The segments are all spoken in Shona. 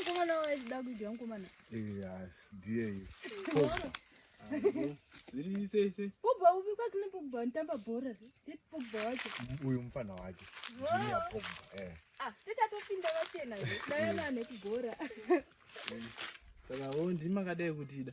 Mkomana waida kuitwa mkomana. Eh, ah, ndiye hiyo. Zviri sei sei. Pogba upi kwa kune Pogba nitamba bhora. Tete Pogba wacho. Uyu mfana wacho. Junior Pogba. Eh. Ah, tete atopinda vachena. Dai ana anekugora. Saka wo ndimakadai kutida.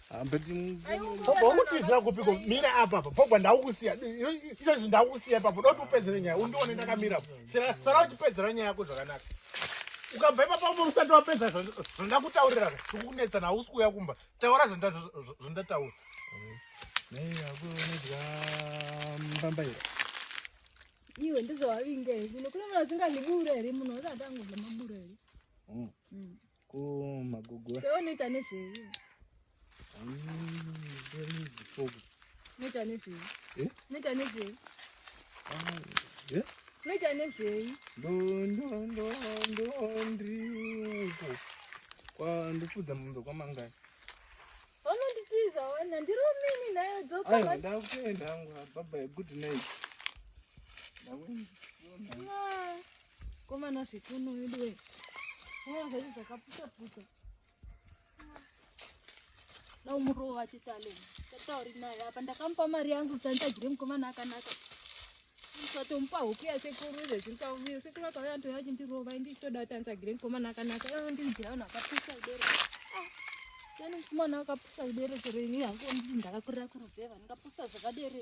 Pogba unotizira kupi ko mira apa apa Pogba ndakukusiya izvozvi ndakukusiya ipapo doti upedzere nyaya undione ndakamira apo sara uchipedzera nyaya yako zvakanaka ukabva ipapo apo usati wapedza zvandoda kutaurira zvikukunetsa nausi kuuya kumba taura zvandataura naiakuonedya mbamba ira iwe ndizvawavinga here kuno kuno vasinganibura here munhu wasatangu zvamabura here kumagogo unoita nezvei unoita nezvei eh? unoita nezvei ah, eh? unoita nezvei ndondondondondriuko ndopfudza mombe kwamangani Vanonditiza wana ndiromini nayo dzoka. Ayo ndakuenda hangu bye bye good night. Ndakuenda. Ah, koma na zvikuno yedu we. Wona zvacho zvakapusa pusa. Na umurova chitale. Tatauri naye apa ndakamupa mari yangu kuti anditagire mukomana akanaka. ukatomupa huku yasekuru zvezviri kauviyo sekuru akauya antoya achindirova indi chitoda kuti antsvagire mukomana akanaka ivo ndinzira vanhu akapusa ibere yani mukomana akapusa ibere chero ini hangu ndii ndakakurira kuruzeva ndingapusa zvakadere